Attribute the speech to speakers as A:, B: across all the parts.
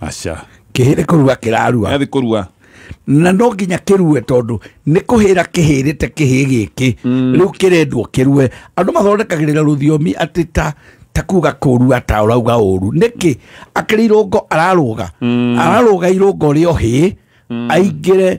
A: aca
B: kĩhĩrĩ kũrua
A: kĩrarua yathi kũrua
B: na no nginya
A: kĩrue tondũ nĩ kũhĩra kĩhĩrĩte kĩhĩ gĩkĩ mm. rĩu kĩrendwo kĩrue andũ mathondekagĩrĩra rũthiomi atĩ ta ta kuga kũrua ta ũrauga ũru nĩkĩ akĩrĩ irũngo ararũga mm. ararũga irũngo rĩo hĩ mm. aingĩre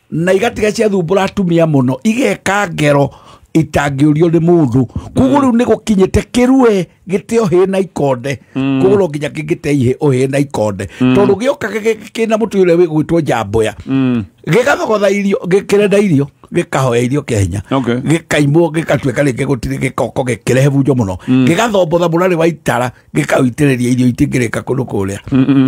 A: na igatiga ciathumbũra atumia mũno igeka ngero itangĩũrio nĩ mũndũ koguo rĩu nĩ gũkinyĩte kĩrue gĩte ũhĩĩ na ikonde koguo no nginya kĩngĩte ihĩ ũhĩĩ na ikonde tondũ gĩoka gĩ- gĩ- kĩna mũtĩ ũrĩa wĩgwĩtwo njamboya gĩgathogotha irio gĩ- kĩrenda irio gĩkahoya irio kĩa hinya Okay. gĩkaimwo gĩgatuĩka rĩngĩ gũtirĩ gĩkoko gĩkĩrehe bunjo mũno gĩgathombotha mũrarĩ wa itara gĩkaũitĩrĩria irio itingĩrĩka kũndũ kũrĩa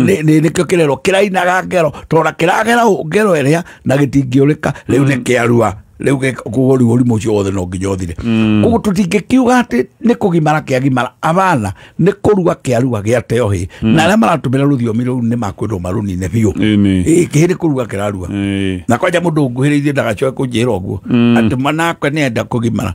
A: Nĩ- nĩ- nĩkĩo kĩrerwo kĩrainaga ngero tondũ kĩragera ũ- ngero ĩrĩa na gĩtingĩũrĩka rĩu nĩ kĩarua rĩu gĩ- koguo rĩu ũrimũ ũcio wothe no nginya ũthire koguo tũtingĩkiuga atĩ nĩ kũgimara kĩagimara abana nĩ kũrua kĩarua gĩateo hĩ na arĩa maratũmĩra rũthiomi rũu nĩ makwĩrwo marũnine biũ Ĩnĩ. Ĩ, kĩhĩ nĩ kũrua kĩrarua Ĩĩ. na kwanja må ndå nguhä rä irie ndagacoe kå njä ra å guo atä manakwe nä enda kå gimara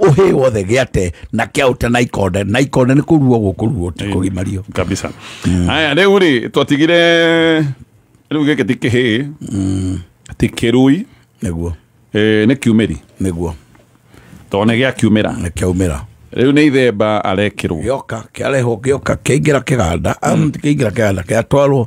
A: uhĩ wothe gĩate na kĩaũte na ikonde na ikonde nĩ kũruo gũkũruo ti kũgimario kabisa mm.
B: haya rĩu rĩ twatigire rĩu gĩkĩ ti kĩhĩ mm. ti kĩrui nĩguo
A: eh, nĩ kiumĩri
B: nĩguo
A: tondũ nĩ
B: gĩa kiumĩra nĩ kĩaumĩra
A: rĩu nĩ ithemba
B: arekĩrwo gĩoka kĩarehwo
A: gĩoka kĩaingĩra kĩganda mm. kĩaingĩra kĩganda kĩatwarwo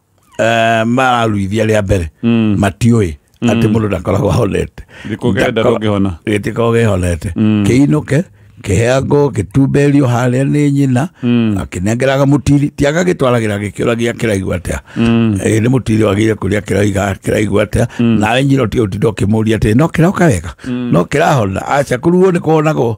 A: eh, mararuithia rĩa mbere Mm. matiũĩ atĩ mũndũ ndakoragwo ahonete Nĩ kũgenda Ndako- ndũngĩhona. gĩtikoragwo gĩhonete kĩinũke kĩheangwo gĩtumberio harĩa nĩ nyina akĩnengeraga mũtiri ti agagĩtwaragĩra gĩkĩũragia kĩraigua atĩa Ĩĩ, nĩ mũtiri wagĩire kũrĩa kĩraiga kĩraigua atĩa nawe nyina ũtige ũtinda ũkĩmũria atĩ no kĩroka wega no kĩrahona aca kũruguo nĩ kuonagwo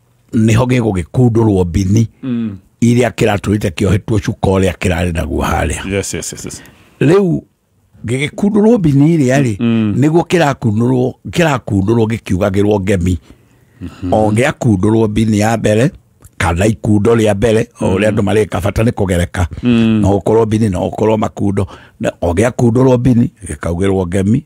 A: niho gigugikundurwo mbini mm. iria kiraturite kiohetwo cuka uria kirari naguo haria yes yes yes, yes. riu gigikundurwo mbini iria ri mm. niguo kirakundurwo kirakundurwo gikiugagirwo ngemi mm-hmm. o giakundurwo mbini ya mbere kana ikundo ria mbere o uria mm. andu marika bata ni kugereka mm. no ukorwo mbini no ukorwo makundo o giakundurwo mbini gikaugirwo ngemi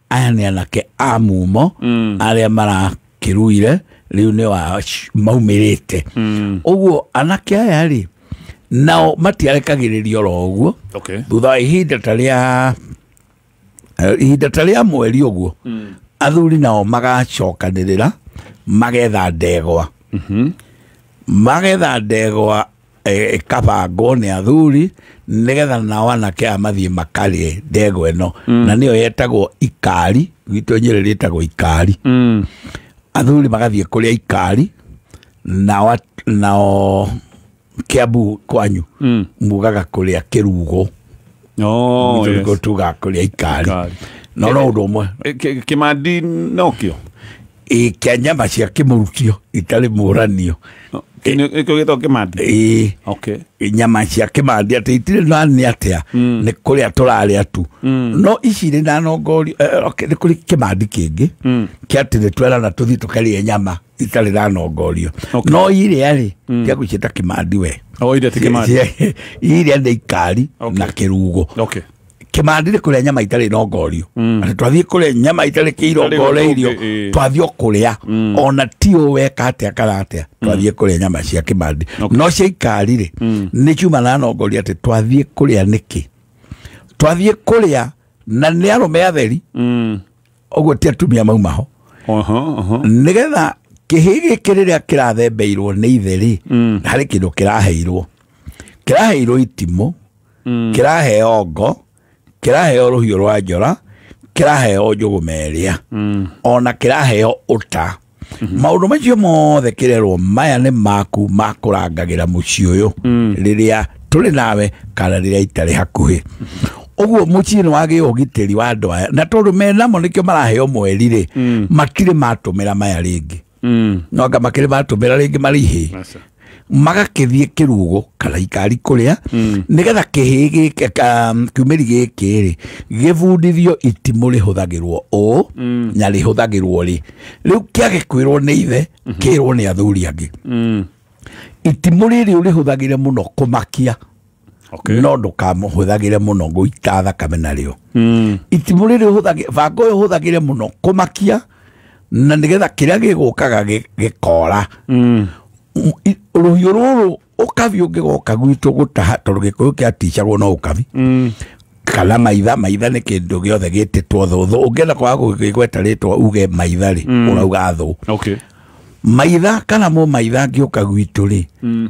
A: aya nĩ anake a mumo Mm. arĩa marakĩruire rĩu nĩ wa maumĩrĩte Mm. ũguo anake aya rĩ nao matiarekagĩrĩria oro ũguo Okay. thutha wa ihinda ta rĩa eh, ihinda ta rĩa mweri ũguo athuri nao magacokanĩrĩra magetha ndegwa magetha ndegwa eh, ĩkabangwo nĩ athuri nĩgetha nao anake a mathiĩ makarĩe ndegwa ĩno na nĩyo yetagwo ikari gwitũ nyĩrĩ rĩtagwo ikari Mm. athuri magathiĩ kũrĩa ikari nao at- nao kĩambu kwanyu Mm. mugaga kũrĩa kĩrugo Oh, Gwitũ yes. nĩkuo tugaga kũrĩa ikari Ikari. no no ũndũ ũmwe Eh, ki- kimandi
B: nokio ĩ kĩa
A: nyama cia kĩmũrutio itarĩ mũranio ikio gĩtagwo kĩmandi ĩ okay nyama cia kĩmandi atĩ itirĩ na nĩ atĩa Mm. nĩ kũrĩa tũrarĩa tu Mm. no ici irĩ na nongori eh, okay, nĩ kũrĩ kĩmandi kĩngĩ Mm. kĩa atĩ nĩ twerana tũthiĩ tũkarĩe nyama itarĩ na nongorio Okay. no irĩa rĩ kĩa gũciĩta kĩmandi we o irĩa ti kĩmandi irĩa nĩ ikari Okay. na kĩrugo okay kimandire kuria nyama itari rongorio mm. na twathie kuria nyama itari kirongoreirio eh. twathie kuria mm. ona ti weka atia kana atia mm. twathie kuria nyama cia kimandi okay. no cia ikari ri mm. ni kiuma na rongoria ati twathie kuria niki twathie kuria na ni arume atheri mm. uguo ti atumia mau maho uh -huh, uh -huh. nigetha kihi giki riria kirathembeirwo ni ithe ri mm. hari kindu kiraheirwo kiraheirwo itimo mm. kĩraheo ngo kĩraheo rũhiũ rwa njora kĩraheo njũgũ merĩa mm. ona kĩraheo ũta mm-hmm. maũndũ macio mothe kĩrerwo maya nĩ maku makũrangagĩra mũciĩ ũyũ mm. rĩrĩa tũrĩ nawe kana rĩrĩa itarĩ hakuhĩ ũguo mũciĩ nĩ wagĩe ũgitĩri wa andũ aya na tondũ menamo nĩkĩo maraheo mweri rĩ mm. matirĩ matũmĩra maya rĩngĩ mm. no anga makĩrĩ matũmĩra rĩngĩ marĩhĩ magakĩthiĩ kĩrugo kana ikari kũrĩa mm. nĩgetha kĩhĩ um, kiumĩri gĩkĩ rĩ gĩbundithio itimũ rĩhũthagĩrwo ũũ mm. na rĩhũthagĩrwo rĩ rĩu kĩagĩkwĩrwo nĩ ithe mm-hmm. kĩrwo nĩ athuri angĩ mm. itimũ rĩrĩ ũrĩhũthagĩre mũno kũmakia okay. no ndũkamũhũthagĩre mũno gũita thakame narĩo mm. itimũ rĩrĩ banga ũyũ ũhũthagĩre mũno kũmakia na nĩgetha kĩrĩa gĩgũkaga gĩkora mm. rũhiũ rũrũ ũkabi ũngĩgoka gwitũ gũtaha tondũ gĩkũyũ kĩaticagwo no ũkabi mm. kana maitha maitha nä kä ndå gä othe gä tä two thå thå å ngä enda kwaga gå gä gweta rä twa uge maitha rä mm. å rauga thå maitha kana må maitha angä å ka gwitå rä mm.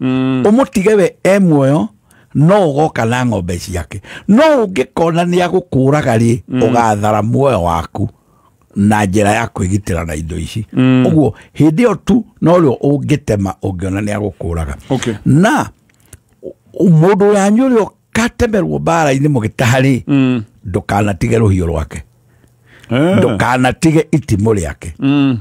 A: mm. umutige we e muoyo no ugoka na ng'ombe ciake no ungikona ni agukuraga ri mm. ugathara muoyo waku na njira ya kwigitira na indo ici mm. uguo hindi yo tu no rio ungitema ungiona ni agukuraga okay. na mundu uria nyuri katemerwo mbara-inĩ mũgĩtaha rĩ Mm. ndũkanatige rũhiũ rwake Eh. ndũkanatige itimũ rĩake Mm.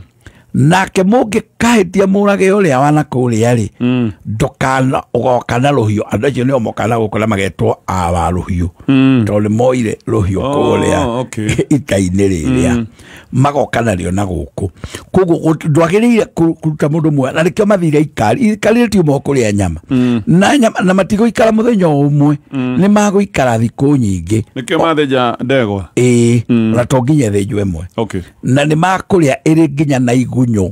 A: nake mũngĩkahĩtia mũrage ũrĩa wana kũrĩa rĩ Mm. ndũkana ũgoka na rũhiũ andũ acio nĩo mokana gũkũ na magetwo awa rũhiũ Mm. tondũ nĩ moire rũhiũ Oh, kũrĩa okay. ita-inĩ rĩrĩa magoka narĩo na gũkũ koguo ndwagĩrĩire kũruta mũndũ ũmwe na nĩkĩo mathire ikari ikari tiuma kũrĩa nyama mm. na nyama na matigũikara mũthenya ũmwe mm. nĩ magũikara thikũ nyingĩ nĩkĩo mathĩnja
B: ndegwa ĩĩ mm. na to
A: nginya thĩnjwo ĩmwe na nĩ makũrĩa ĩrĩ nginya na igunyũ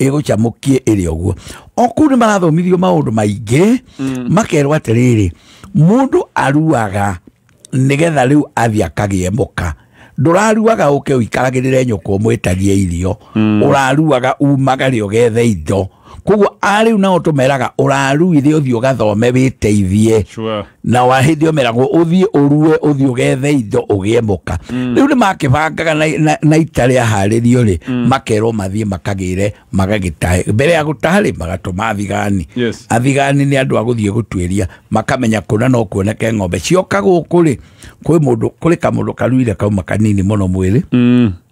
A: ĩgũcamũkie ĩrĩ ũguo o kũu nĩ marathomithirio maũndũ maingĩ makerwo atĩrĩrĩ mũndũ aruaga nĩgetha rĩu athiĩ akagĩe mũka ndũraruaga ũke ũikaragĩrĩre nyũkwa ũmwĩtagie irio ũraruaga umaga rĩ ũgethe indo koguo arĩu nao tũmeraga ũraruire ũthiĩ ũgathome wĩteithie Sure. na wa hindi omeragwo uthie urue uthie ugethe indo ugie muka mm. riu ni makibangaga na, na, na ita ria haririo ri mm. makerwo mathie makagire magagitahe mbere ya gutaha ri magatuma athigani Yes. athigani ni andu aguthie gutuiria makamenya kuna no kuoneke ng'ombe cioka guku ri kwi mundu kuri kamundu karuire kauma kanini muno mwiri Mm.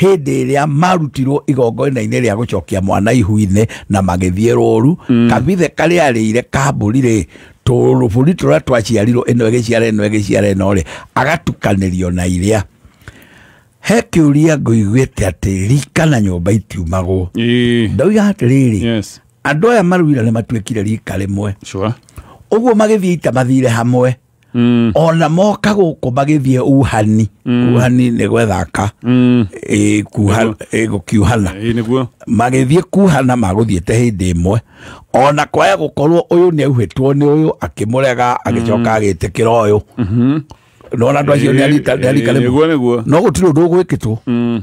A: hĩndĩ ĩrĩa marutirwo igongona-inĩ rĩa gũcokia mwana ihu-inĩ na magĩthiĩ rũru mm. kabithe karĩa arĩire kambũri rĩ tũrũbũri tũrĩa twaciarirwo ĩno ĩgĩciara ĩno ĩgĩciara ĩno rĩ agatukanĩrio na iria he kä å ria ngå iguä te atä rika na nyå mba itiumagwo ndoiga atä rä rä andå aya maruira nä matuä kire rika rä mwe å guo magä thiä ita mathire hamwe Mm. ona moka gũkũ magĩthiĩ uhani mm. uhani nĩ gwethaka mm. e, kuha, e, gũkiuhana magĩthiĩ kuhana magũthiĩte hĩndĩ ĩmwe ona kwaya gũkorwo ũyũ nĩ auhĩtwo nĩ ũyũ akĩmũrega agĩcoka mm. agĩtĩkĩra ũyũ mm-hmm. nona andå acio nä arika rä no gå tirä å ndå å gwä kä two mm.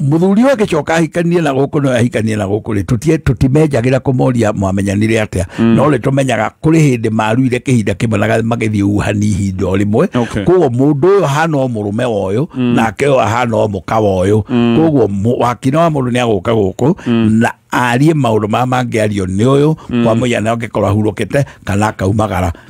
A: muthuri ũyũ agĩcoka ahikanie na gũkũ no ahikanie na gũkũ rĩ tũtie tũtimenjagĩra kũmoria mwamenyanire atĩa no rĩ tũmenyaga kũrĩ hĩndĩ maruire kĩhinda kĩmwe na magĩthiĩ uhani ihinda o rĩmwe Okay. koguo mũndũ ũyũ ahana o mũrũme wa ũyũ nake ũyũ ahana o mũka wa ũyũ koguo mũ- wakina wa mũndũ nĩ agũka gũkũ na arie maũndũ maya mangĩario nĩ ũyũ kwa mũhiana angĩkorwo ahurũkĩte kana akaumagara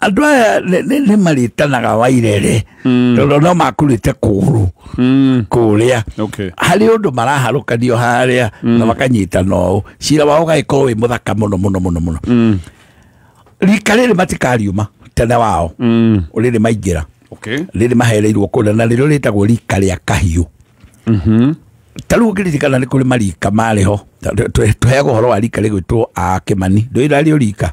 A: andå aya nä marĩtanaga wairere mm. tondå no makurĩte kũgũrũ mm. kũrĩa harä å ndå maraharũkanio harĩa mm. na makanyitana ũũ cira wao ũgagĩkorwo wĩ mũthaka mũno mũno mũno mũno rika rĩrĩ matikariuma tene wao rĩrĩ maingĩra rĩrĩ mahereirwo kũrĩa na rĩrĩo rĩtagwo rika rĩa kahiũ mm-hmm. ta rä u ngä ririkana nä kå rä marika marä ho tå heagwo horo wa rika rä gwä two akä mani ndå ä rarä o rika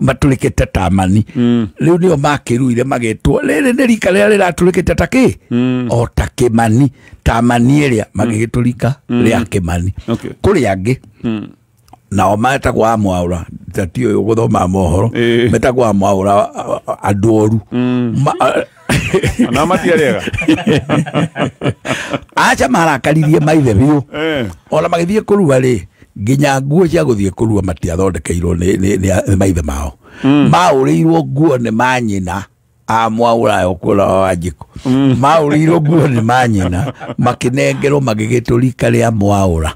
A: matũrĩkĩte tamani mm. rĩu nĩo makĩruire magetwo rĩrĩ nĩ rika rĩrĩa rĩratũrĩkĩte ta kĩ mm. o ta kĩmani tamani ĩrĩa mm. magĩgĩtũrika mm. rĩa kĩmani okay. kũrĩ angĩ mm nao metagwo a mwaura tati å yå gå thoma mohoro metagwo a mwaura andå oru Ona
B: matiarega.
A: aca marakaririe maithe biũ Eh. ona magĩthiĩ kũrua rĩ nginya nguo cia gũthiĩ kũrua matiathondekeirwo nĩ- nĩ nĩ- nĩ maithe mao maũrĩirwo nguo nĩ manyina a mwaũraya ũkuona wa njĩko maũrĩirwo nguo nĩ manyina makĩnengerwo magĩgĩtũrika rĩa mwaũra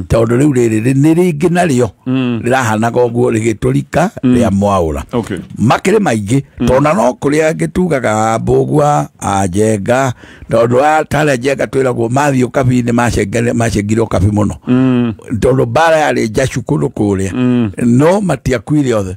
A: tondũ rĩu rĩrĩ rĩ- nĩ rĩngĩ narĩo mm. rĩrahanaga ũguo rĩgĩtũrika mm. rĩa mwaũra okay. makĩrĩ maingĩ mm. tona no kũrĩa gĩtugaga mbũgua njenga tondũ atarĩa njenga twĩragwo mathiĩ ũkabi nĩ macengire ũkabi mũno mm. tondũ mbara yarĩ njacu kũndũ kũrĩa mm. no matiakuire othe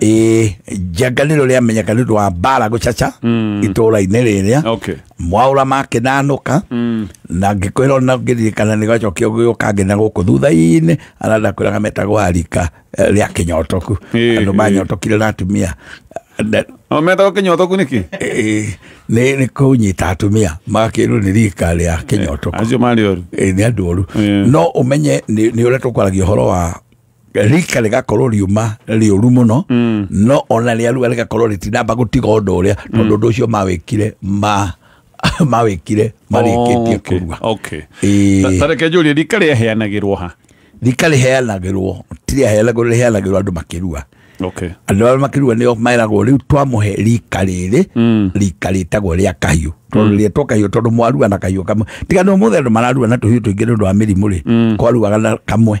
A: ĩ njanganĩro rĩamenyeka nĩ ũndũ wa mbara gũcaca itũũra-inĩ rĩrĩa Okay. mwaũra makĩnanũka na ngĩkwĩra ona ngĩririkana nĩ gacokio gĩũka nginya gũkũ thutha-inĩ arĩa ndakwĩraga metagwo arika eh, rĩa kĩnyotoku Ĩĩ, andũ ĩĩ. manyotokire na atumia Na- No
B: metagwo kinyotoku niki? ĩĩ, nĩ
A: nĩ kũnyita atumia magakĩrwo nĩ rika rĩa kĩnyotoku Acio mari oru. Ĩĩ,
B: nĩ andũ oru
A: Ĩĩ. no ũmenye nĩ nĩ ũrĩa tũkwaragia ũhoro wa rika rigakorwo riuma riuru muno mm. no ona riaruga rigakorwo ritinamba gutiga undu uria mm. tondu undu ucio mawikire ma mawikire marikitie oh, kurua okay tareke
B: njuri rika riheanagirwo ha rika riheanagirwo
A: ti riheanagirwo riheanagirwo andu makirua okay andu aria makirua nio meragwo riu twamuhe rika riri mm. rika ritagwo ria kahiu tondu mm. rietwo kahiu tondu mwarua na kahiu kamwe tiga no muthe andu mararua na tuhiu tuingi ni undu wa mirimu ri kwaruaga na kamwe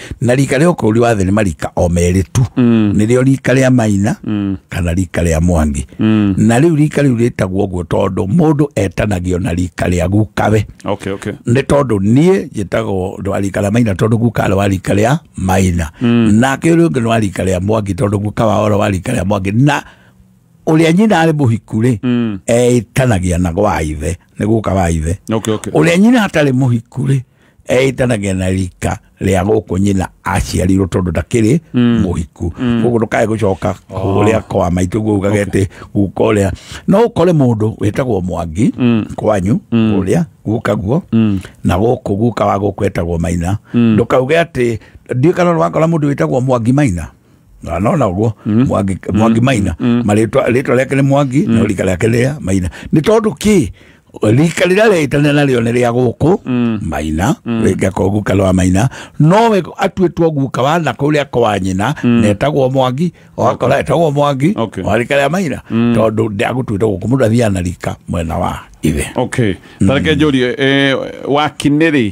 A: na rika rĩa ũkũri wa thĩ nĩ marika o merĩ tu Mm. nĩrĩo rika rĩa maina Mm. kana rika rĩa mwangi Mm. na rĩu rika rĩu rĩtagwo ũguo tondũ mũndũ etanagio na rika rĩa gukawe okay okay nĩ tondũ niĩ njĩtagwo wa rika rĩa maina tondũ guka arĩ wa rika rĩa maina nake ũrĩa ũngĩ nĩ wa rika rĩa mwangi tondũ guka wa oro wa rika rĩa mwangi na ũrĩa nyina arĩ mũhiku rĩ Mm. etanagia na gwa ithe nĩ guka wa ithe okay okay ũrĩa nyina atarĩ mũhiku rĩ eĩtanagia na rika rĩa gũkũ nyina aciarirwo tondũ ndakĩrĩ mũhiku koguo ndũkae gũcoka kũrĩa kwa maitũ guo ugaga atĩ guka ũrĩa no ũkore mũndũ wĩtagwo mwangi kwanyu ũrĩa guka guo na gũkũ guka wa gũkũ etagwo maina ndũkauge atĩ ndiũĩ kana ũrakora mũndũ wĩtagwo mwangi maina Na nona guo mwangi mwangi maina maritwa ritwa riake ni mwangi na rika riake ni ria maina ni tondu ki rika riria riitane nario ni ria guku maina ringa ko guka rwa maina nowe atuitwo guka wa na kuria kwa nyina netagwo mwangi wakora etagwo mwangi Okay. wa rika ria maina tondu ndiagutuite guku mundu athiaga na rika mwena wa ithe okay tareke
B: njũrie eh, wakinĩ rĩ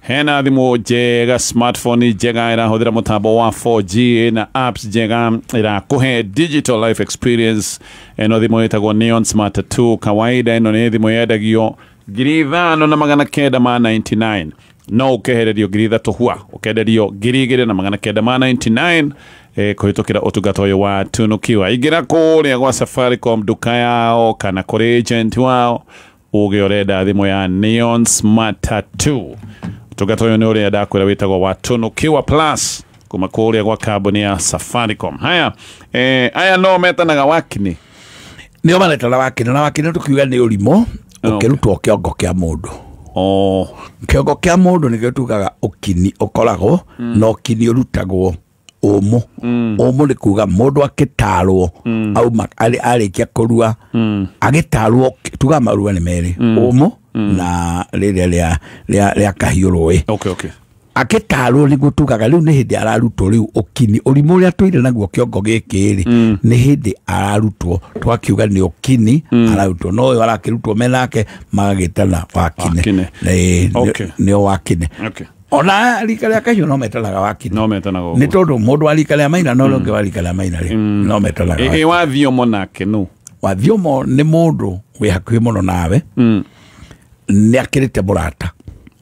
B: hena thimå njega smartphone njega ĩrahũthĩra mũtambo wa 4G na apps njega ĩrakũhe digital life experience ĩno thimũ ĩtagwo Neon Smart 2 kawaida ĩno nĩ thimũ yendagio ngiri ithano na magana kenda ma 99 no ũkehererio ngiri ithatũ hua ũkenderio ngiri igĩrĩ na magana kenda ma 99 eh, kũhĩtũkĩra ũtungata ũyũ wa tunukiwa ingĩra kũrĩa gwa safaricom nduka yao kana kũrĩ agent wao Ũgĩ ũrenda thimũ ya Neon Smart Tattoo. Ũtungata ũyũ nĩ ũrĩa ndakwĩra wĩtagwo wa Tunukiwa Plus kuma kũrĩa gwa kambuni ya Safaricom. Haya, eh, aya no metanaga wakini. nĩo
A: maretana wakĩnĩ na wakĩnĩ tũkiuga nĩ ũrimũ ũkĩrutwo kĩongo kĩa mũndũ Oh, kĩongo kĩa mũndũ nĩkĩo tugaga ũkini ũkoragwo na ũkini ũrutagwo ũmũ mm. ũmũ nĩ kuga mũndũ akĩtarwo mm. auma arĩkia kũrua mm. agĩtarwo tuga marua nĩ merĩ ũmũ na rĩrĩa rĩa kahiũ rũĩ agĩtarwo nĩguo tugaga rĩu nĩ hĩndĩ ararutwo rĩu ũkini ũrimũ ũrĩa tũire naguo kĩongo gĩkĩ rĩ mm. nĩ hĩndĩ ararutwo twakiuga nĩ ũkini mm. ararutwo no ũyũ arakĩrutwo menake magagĩtana wakine nĩo wakine ona rika rĩa kahiũ no metanaga wakiri no metanaga nĩ tondũ mũndũ wa rika rĩa maina no ũngĩ wa rika rĩa maina rĩ Mm. no metanaga ä wa thiomo nake
B: nũ wathiomo
A: nĩ mũndũ wĩ hakuhĩ mũno nawe Mm. nĩ akĩrĩte mũrata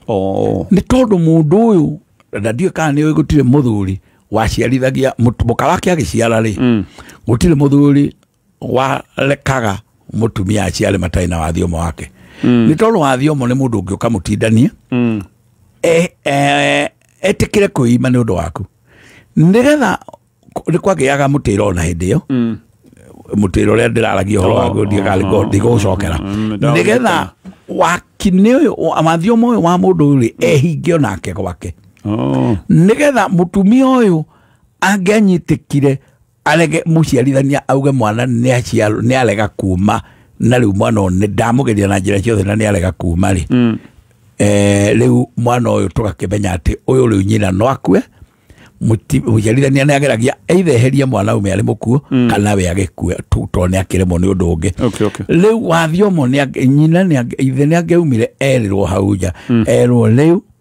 A: Oo. nĩ tondũ mũndũ ũyũ na ndiũĩ kana nĩ ũĩ gũtirĩ mũthuri waciarithagia mũtu- mũka wake agĩciara rĩ Mm. gũtirĩ mũthuri warekaga mutumia aciare matarĩ na wathiomo wake nĩ tondũ wathiomo nĩ mũndũ ũngĩ ũkamũtindania Mm. e- e- etĩkĩre kwĩima nĩ ũndũ waku nĩgetha nĩ kwagĩaga mũtĩra ona hĩndĩ ĩyo Mm. mũtĩra ũrĩa ndĩraragia ũhoro waguo ndigũcokera nĩgetha wakinĩ ũyũ mathiomo ũyũ wa mũndũ ũyũ rĩ ehinge o nake gwake Oh. nĩgetha mũtumia ũyũ angĩanyitĩkire arege mũciarithania auge mwana nĩ aciarwo nĩ arega kuma na rĩu mwana ũyũ nĩ ndamugeria na njĩra ciothe na nĩ arega kuma rĩ mm. eh, rĩu mwana ũyũ tũgakĩmenya atĩ ũyũ rĩu nyina no akue Mũti- mũciarithania nĩ ageragia either eherie mwana ume arĩ mũkuo mm. kana we agĩkue tu- tondũ nĩ akĩremwo nĩ ũndũ ũngĩ Okay, okay. rĩu wathiomo nĩ ange- nyina nĩ ange- ithe nĩ angeumire erĩrwo hau nja erwo rĩu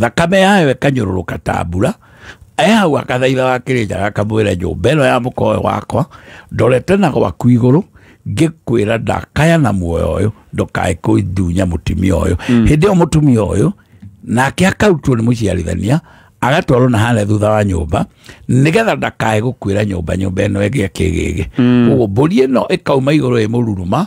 A: thakame yayo ĩkanyũrũrũka ta mbura ehau akathaitha wa kĩrĩnja gakamwĩra nyũmba ĩno ya mũkowe wakwa ndorete na gwaku igũrũ ngĩkwĩra ndakaya na muoyo ũyũ ndũkae kũndunya mũtumia ũyũ mm. hĩndĩ ĩyo mũtumia ũyũ nake akarutwo nĩ mũciarithania agatwarwo na harĩa thutha wa nyũmba nĩgetha ndakae gũkwĩra nyũmba nyũmba ĩno ĩgĩa kĩgĩgĩ mm. koguo mbũri ĩno ĩkauma igũrũ ĩ mũruruma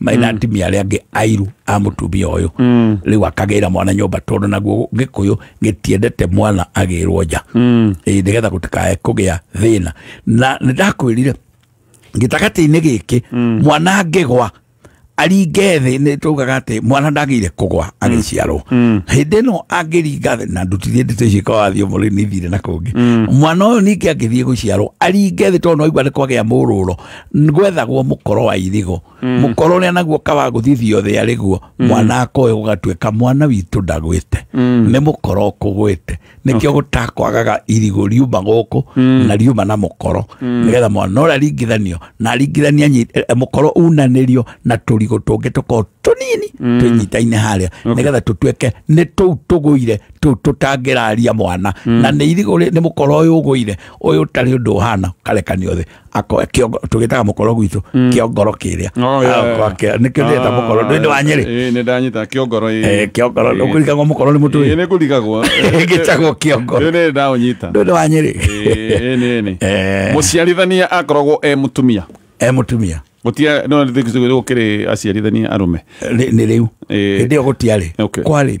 A: maina atimia arĩa angĩ airu a mũtumia ũyũ rĩu akagĩra mwana nyũmba tondũ naguo gĩkũyũ gĩtiendete mwana agĩrwo nja Ĩĩ, nĩgetha gũtikae kũgĩa thĩna na nĩndakwĩrire gĩtagatĩ-inĩ gĩkĩ mwana angĩgwa aringe thĩ nĩ tugaga atĩ mwana ndagĩire kũgwa agĩciarwo hĩndĩ ĩno angĩringa thĩ na ndutithie ndeto icio ikawathiĩ mũrĩ nithire na kũngĩ mwana ũyũ ningĩ angĩthiĩ gũciarwo aringe thĩ tondũ no aigua nĩ kwagĩa mũrũro gwethagwo mũkoro wa irigũ mm. mũkoro ũrĩa naguo kawa gũthithio thĩ arĩ guo mm. mwana akoe gũgatuĩka mwana witũ ndagwĩte mm. nĩ mũkoro ũkũgwĩte nĩkĩo gũtakwagaga irigũ riuma gũkũ na riuma na mũkoro nĩgetha mwana ũrĩa aringithanio na aringithania e, e, mũkoro unanĩrio na tũrigũ tũngĩ tũkorwo tũnini tũnyitaine harĩa nĩgetha tũtuĩke nĩ tũu tũgũire tũu tũtangĩraria mwana na nĩ irigũ nĩ mũkoro ũyũ ũgũire ũyũ ũtarĩ ũndũ ũhana karekanio thĩ ako kiongo tugitaga mukoro gwitu mm. kiongoro kiria oh, yeah. nikio ndeta mukoro ndu ndi wa nyeri eh ni ndanyita kiongoro
B: eh kiongoro eh. ukurigagwo
A: mukoro ni mutu eh ni kurigagwo
B: gitagwo
A: kiongoro ni ndaunyita ndu
B: ndi wa nyeri
A: eh ni ni eh.
B: muciarithania akoragwo e mutumia e mutumia
A: gutia no
B: ndithikizwe gukiri aciarithania arume ni riu
A: hindi yo gutiari kwari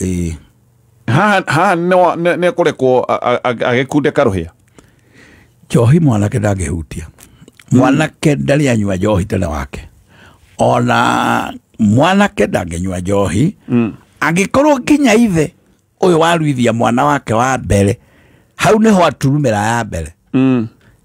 B: ĩĩ haha haha nĩwa- nĩ- nĩekũrekwo a- a- a- agĩkunde karũhĩa
A: njohi mwanake ndangĩhutia mwanake ndarĩ anyua njohi tene wake ona mwanake ndangĩnyua njohi angĩkorwo nginya ithe ũyũ waruithia mwana wake wa mbere hau nĩho aturumĩra ya mbere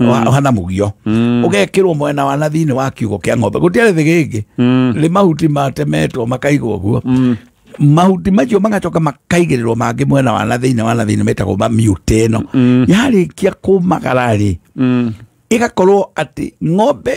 A: wa- wa na mugio ũgekĩrwo mwena wa na thĩinĩ wa kiugo kĩa ng'ombe gũtiarĩ thĩ gĩngĩ nĩ mahuti matemetwo makaigwo ũguo mahuti macio magacoka makaigĩrĩrwo mangĩ mwena wa na thĩinĩ wa na thĩinĩ metagwo mamiute ĩno yarĩkia kũmagara rĩ ĩgakorwo atĩ ng'ombe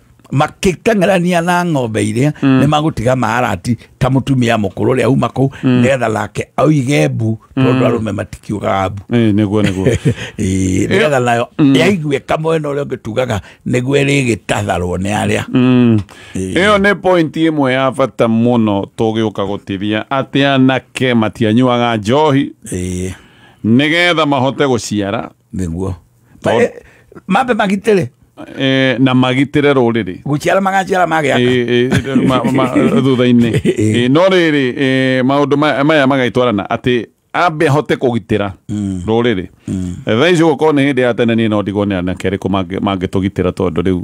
A: makĩteng'erania na ng'ombe iria mm. nĩ magũtiga maarati ta mutumia mukuru ria uma kuu mm. nigetha nake aige mbu tondu mm. arume matikiugaga mbu niguo niguo nigetha nayo mm. yaigue kamwena uria ungi tugaga niguo irigitatharwo ni aria mm. iyo
B: ni point imwe ya bata muno tugiuka gutithia ati anake matianyuaga njohi nigetha mahote guciara nĩguo
A: Ma- eh, mambe magitĩre Eh, na
B: magitĩre rũrĩrĩ gũciara magaciara
A: magĩaka Eh, eh, ma- ma- thutha-inĩ
B: Eh, no rĩrĩ eh, maũndũ ma- maya magaitwarana atĩ ambe ahote kũgitĩra rũrĩrĩ thaa ici gũkorwo nĩ hĩndĩ ya tene niĩ no ndigwo nĩ anake arĩkũ mangĩ- mangĩtũgitĩra tondũ rĩu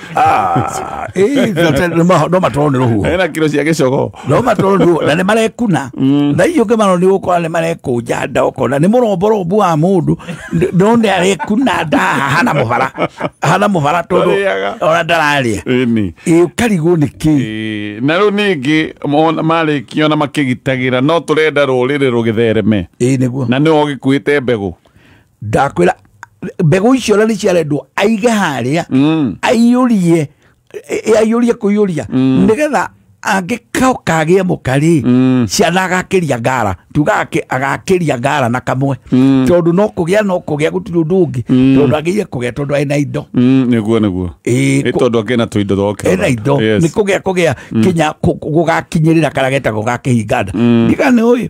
B: Ah, eh,
A: no ma- no matwarwo nĩ rũhuho ena kiro cia gĩcogo
B: no matwarwo nĩ rũhuho na
A: nĩ marekuna na icio ũngĩ mano nĩ gũkora nĩ marekũnja nda ũkona nĩ mũromborombu wa mũndũ N- no nĩ arekuna nda hana mũbara hana mũbara tondũ Ndarĩaga. ona ndararĩa Ĩni. Ĩ,
B: ũkarigwo nĩ
A: kĩ Ĩĩ, na rĩu
B: ningĩ mona- marĩkia ona makĩgitagĩra no tũrenda rũrĩrĩ rũgĩthereme ĩ nĩguo na nĩwe
A: ũgĩkuĩte
B: mbegũ ndakwĩra
A: mbegũ icio na nĩ ciarendwo aige harĩa Mm. aiyũrie e- e- aiyũrie kũiyũria nĩgetha angĩkao kagĩa mũka rĩ Mm. ciana agakĩria ngara tuga ake- agakĩria ngara na kamwe Mm. tondũ no kũgĩa no kũgĩa gũtirĩ ũndũ ũngĩ Mm. tondũ agĩire kũgĩa tondũ ena indo Mm, nĩguo nĩguo
B: Ĩĩ, Ĩ, kũ- tondũ angĩ na tũindo twoke ena indo nĩ kũgĩa
A: kũgĩa kinya kũ- kũ- gũgakinyĩrĩra karĩa getagwo gakĩhinganda ndigana ũyũ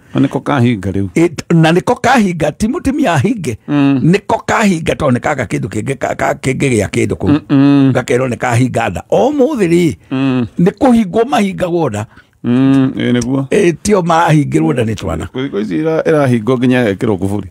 A: Na nĩko kahinga
B: rĩu It- na nĩko kahinga
A: ti mũtumia ahinge nĩko kahinga tondũ nĩ kaga kĩndũ kĩngĩ ka- ka- kĩngĩ gĩa kĩndũ kũu gakerwo nĩ kahinga nda o mũthĩ rĩ nĩ kũhingwo mahingagwo nda Mm, ĩ nĩguo
B: Ĩ, tio
A: mahingĩrwo nda nĩ twana Kũrĩ- kũrĩ ici ira- ĩrahingwo
B: nginya ekĩrwo kuburi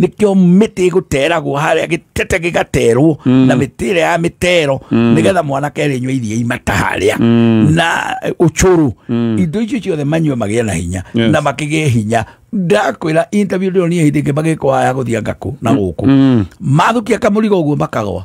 A: nĩkĩo mĩtĩ ĩgũteragwo harĩa gĩtete gĩgaterwo mm. na mĩtĩ ĩrĩa ya mĩtero mm. nĩgetha mwanake arĩnyua iria imata harĩa mm. na ũcũrũ mm. indo icio ciothe manyue magĩa na hinya yes. na makĩgĩe hinya ndakwĩra interview ndĩronire hĩndĩ ĩngĩ magĩkwa ya gũthianga kũ na gũkũ mm. mathukia kamũrigo ũguo makagwa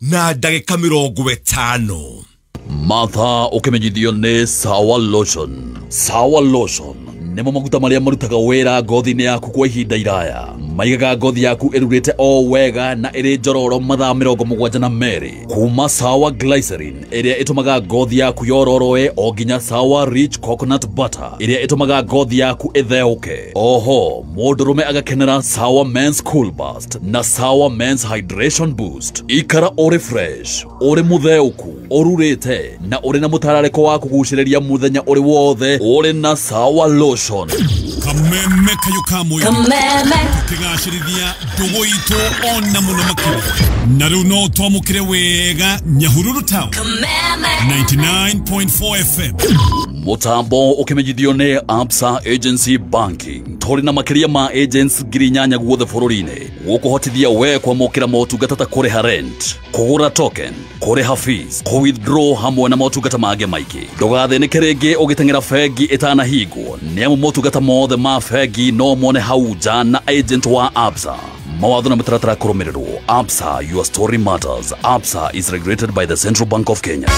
C: na ndagĩka mĩrongo ĩtano matha
D: ũkĩmenyithio nĩ sawa lotion sawa lotion nĩmo maguta marĩa marutaga wĩra ngothi-inĩ yaku kwa ihinda iraya maigaga ngothi yaku ĩrurĩte o wega na ĩrĩ njororo mathaa mĩrongo mũgwanja na merĩ kuma sawa glycerin ĩrĩa ĩtũmaga ngothi yaku yororoe o nginya sawa rich coconut butter ĩrĩa ĩtũmaga ngothi yaku ĩtheũke oho mũndũrũme agakenera sawa mens cool bus Boost na Sawa Men's Hydration Boost. Ikara ũrĩ fresh, ũrĩ mũtheũku, ũrurĩte na ũrĩ na mũtararĩko wa kũgucĩrĩria mũthenya ũrĩ wothe ũrĩ na Sawa Lotion. kameme
C: kayo ka mwĩrĩ Kameme. kĩgacĩrithia ndũgũ itũ ona mũno makĩria na rĩu no twamũkĩre wega nyahururu town 99.4 fm Mũtambo
D: ũkĩmenyithio nĩ Absa Agency Banking. tũrĩ na makĩria ma agents ngiri inyanya guothe bũrũri-inĩ gũkũhotithia we kwamũkĩra motungata ta kũrĩha rent kũgũra token kũrĩha fees kũ withdraw hamwe na motungata mangĩ maingĩ ndũgathĩnĩke rĩngĩ ũgĩteng'era bengi ĩtanahingwo nĩ amu motungata mothe ma bengi no mone hau nja na agent wa absa mawatho na mĩtaratara kũrũmĩrĩrwo absa your story matters absa is regulated by the central bank of kenya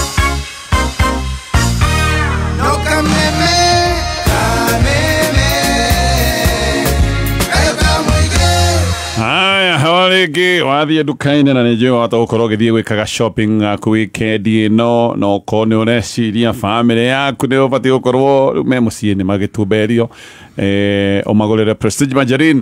B: haya hawa rĩngĩ wathiĩ nduka-inĩ na nĩ njũĩ wahota gũkorwo ũgĩthiĩ gwĩkaga shopping yaku weekend ĩno na okorwo nĩ ũreciria bamĩrĩ yaku nĩ ũbatiĩ gũkorwo rĩu me mũciĩ nĩ magĩtumberio eh, ũmagũrĩre prestige margarine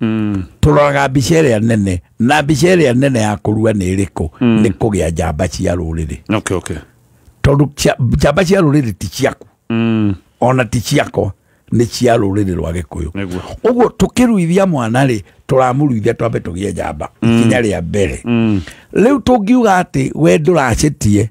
A: mm. tũroraga mbica ĩrĩa nene na mbica ĩrĩa nene ya kũrua nĩ ĩrĩkũ mm. nĩ kũgĩa njamba cia rũrĩrĩ okay, okay. tondũ njamba cia rũrĩrĩ ti ciaku mm. ona ti ciakwa nä cia rå rä rä rwa gä kå yå å guo tå kä ruithia mwana rä tå ramå ruithia twambe tå gä e njamba mm. ikinya rä a mbere mm. rä u tå ngiuga atä we ndå racä tie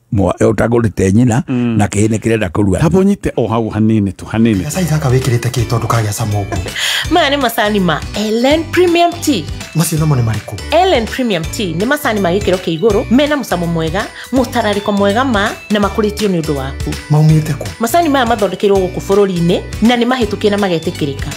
A: mwa- ũtagũrĩte nyina na kĩhĩ nĩ kĩrenda kũrua taba ũnyite o hau
B: hanini tu hanini gacai gaka wĩkĩrĩte kĩ
E: tondũ kagĩa cama ũguo maya nĩ macani
F: ma ellen premium tea macio namo nĩ marĩkũ
E: ellen premium tea
F: nĩ macani ma gĩkĩro kĩa igũrũ mena mũcamo mwega mũtararĩko mwega ma na makũrĩtio nĩ ũndũ waku maumĩte kũ macani maya mathondekeirwo gũkũ bũrũri-inĩ na nĩ mahĩtũkie
E: na
F: magetĩkĩrĩka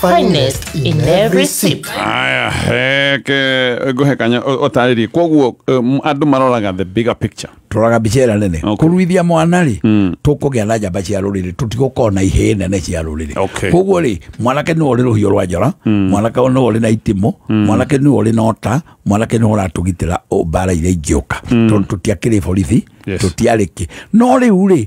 F: finest in every sip aya
B: heke nguhekanya utariri koguo um, andu maroraga the bigger picture turaga mbica ĩrĩa nene
A: Okay. kũruithia mwana rĩ Mm. tũkũgĩa na njamba cia rũrĩrĩ tũtigũkorwo na ihĩĩ nene cia rũrĩrĩ Okay. koguo rĩ mwanake nĩwe ũrĩ rũhiũ rwa njora mwanake nĩwe ũrĩ na itimũ mwanake nĩwe ũrĩ na ũta mwanake nĩwe ũratũgitĩra o mbara iria ingĩũka tondũ tũtiakĩrĩ borithi Yes. tũtiarĩkĩ no rĩu rĩ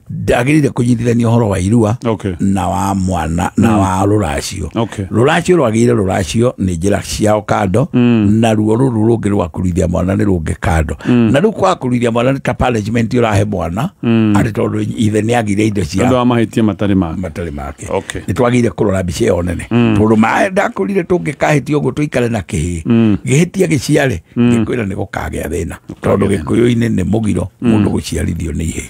A: ndagirire kunyitithania horo wa irua okay. na wa mwana na mm. wa ruracio okay. ruracio rwagire ruracio ni njira ciao kando mm. na ruo ruru rungi rwa kurithia mwana ni rungi kando mm. na riu kwa kurithia mwana ni ta punishment urahe mwana mm. ari tondu ithe ni agire indo cia andu amahitie matari make
B: matari make okay.
A: ni twagire kurora mbica iyo nene mm. tondu mae ndakurire tungikahitio guo tuikare na kihi mm. gihitia giciare mm. gikwira ni gukagea thina tondu gikuyu-ini ni mugiro mundu mm. guciarithio ni ihe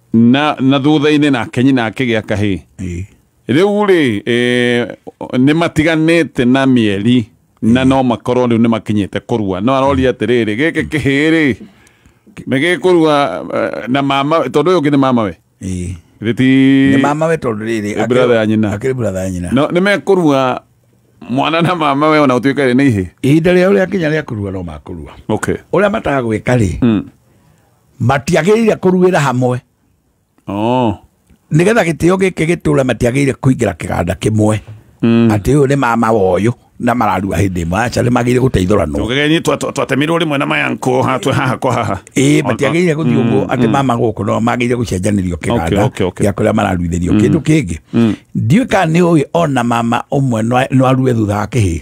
B: na na thutha-inĩ nake nyina akĩgĩa kahĩ Ĩĩ. rĩu rĩ eh, nĩ matiganĩte na mĩeri na no makorwo rĩu nĩ makinyĩte kũrua no aroria atĩrĩrĩ gĩkĩ kĩhĩ rĩ nĩ gĩkũrua eh, na mama tondũ ũyũ ũngĩ nĩ mama we Ĩĩ. Githĩ ti nĩ
A: mama we tondũ rĩrĩ Nĩ brother ya nyina. akĩrĩ
B: brother ya nyina no nĩ
A: mekũrua
B: mwana na mama we ona ũtuĩka rĩ nĩ ihĩ ihinda rĩao rĩakinya rĩa
A: kũrua no makũrua okay ũrĩa matagwĩka rĩ matiagĩrĩire kũruĩra hamwe oh. nĩgetha gĩtĩo gĩkĩ gĩtũre matiagĩrĩire kũingĩra kĩganda kĩmwe mm. atĩ ũyũ nĩ mama wa ũyũ na mararua hĩndĩ ĩmwe aca nĩ magĩrĩire gũteithũranwo ũgegenyi twatemirwo
B: rĩmwe na mayankũ hatwe haha kwa haha ĩĩ matiagĩrĩire gũthiĩ
A: mm, ũguo atĩ mm. mama gũkũ no magĩrĩire gũcenjanĩrio kĩganda gĩa kũrĩa mararuithĩrio mm. kĩndũ kĩngĩ ndiũĩ kana nĩ ũĩ ona mama ũmwe no arue thutha wa kĩhĩĩ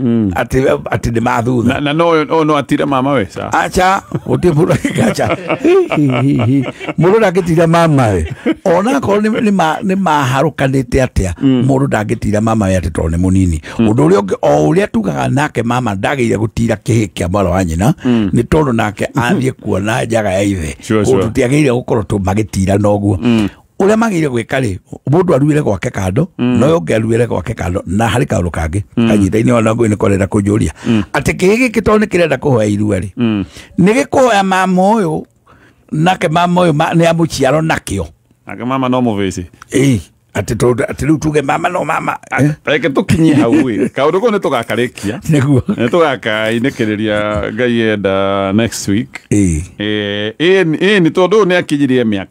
A: Mm. atĩ we- atĩ nĩ mathutha na na no ũyũ- ũyũ no atire
B: mama we sa acha gũtirĩ mũndũ
A: angĩkacha mũndũ ndangĩtira mamawe ona akorwo nĩ- nĩ ma- nĩ maharũkanĩte atĩa mũndũ ndangĩtira mamawe atĩ tondũ nĩ mũnini ũndũ ũrĩa ũngĩ o ũrĩa tugaga nake mama ndagĩire gũtira kĩhĩ kĩa mwana wa nyina nĩ tondũ nake athiĩ kuona njaga ya ithe Sure, sure. kũndũ tiagĩrĩire gũkorwo tũ- magĩtirana ũguo uria magire gwika ri mundu aruire gwake kando mm. no yonge aruire gwake kando na hari kaundu kangi mm. kanyitaini ona ngui ni korenda kunjuria mm. ati kihi giki to ni kirenda kuhoya irua ri mm. ni gikuhoya mama uyu nake mama uyu ni amuciaro nakio nake mama no
B: muvici eh ati to
A: ati riu tuge mama no mama eh? reke tukinye
B: hau ri kaundu ko ni tugakarikia niguo ni
A: tugakainekiriria
B: ngai enda next week eh eh eh ni tondu ni akinyirie miaka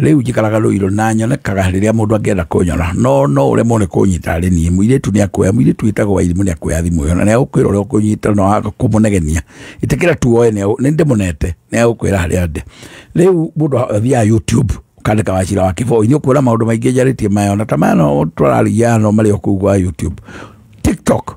A: rĩu njikaraga rũirũ na nyonekaga rĩrĩa mũndũ angĩenda kũnyona no no ũrĩa mone kũnyita arĩ niĩ mũirĩtu nĩ akuoya mũirĩtu wĩtagwo wairimũ nĩ akuoya thimũ ĩyo na nĩ agũkwĩra ũrĩa ũkũnyita na waga kũmũnegenia ĩtĩkĩra tu woe nĩ ndĩmũnete nĩ agũkwĩra harĩa ndĩ rĩu mũndũ athiaga youtube kandika wacira wa kiboi nä å kuona maå ndå maingä njarä tie maya ona ta maya no tårarigia no marä o kå u gwa youtube tiktok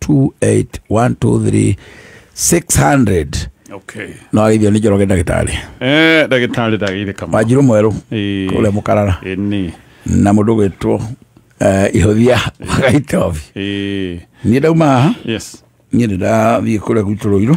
A: 28 1 2 3 600 okay
B: no agithio nĩ njoroge
A: ndagĩtarĩ eh ndagĩtarĩ
B: ndagĩire kama wanjirũ mwerũ
A: Eh. kũrĩa mũkarara eh ni
B: na mũndũ gwĩtwo
A: eh, ihũthia wagaitobi eh niĩ ndauma haha yes niä ndä ndathiä kå rä a gwitå rå irå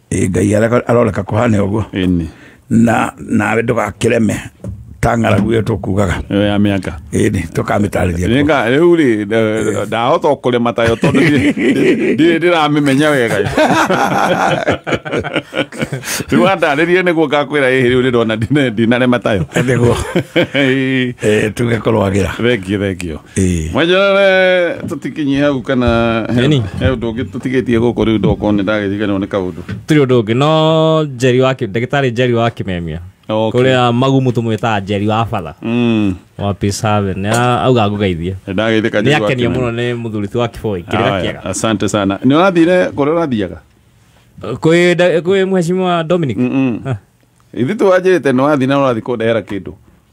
B: Ĩ, ngai areka-
A: aroreka kũhane ũguo Ĩni. na nawe ndũgakĩreme ta ng'aragu ĩyo tũkugaga Ĩyo ya mĩaka.
B: ĩni tũkamĩtarĩria
A: kuo. Nĩga rĩu rĩ
B: nda- ndahota kũrĩma tayo tondũ ndirĩ- ndirĩ ndirĩ ndĩramĩmenya wega rĩu andarĩrie nĩguo ngakwĩra ĩhĩ rĩu nĩndona ndina- ndinarĩma tayo Nĩguo.
A: Ĩĩ, Eh, tuge kũrwagĩra thengio thengio
B: Eh. mwenjerere tutikinye hau kana he Eni. he undu ungi tutigitie guku riu ndoko ni ndagiriganirwo ni kaundu tiri undu ungi no
G: njeri wa Ki- ndagitari njeri wa kimemia Okay. kuria magumu tumwitaga njeri wa batha mm wa peace haven Ni a- auga ngugeithie ndagithika ni akenio
B: muno ni
G: muthuri ti wa kiboi kirira kiega asante sana ni
B: urathire kuria urathiaga kwi
G: nda- kwi mheshimiwa dominic mm ithu
B: twanjirite ni wathi na urathi kundehera kindu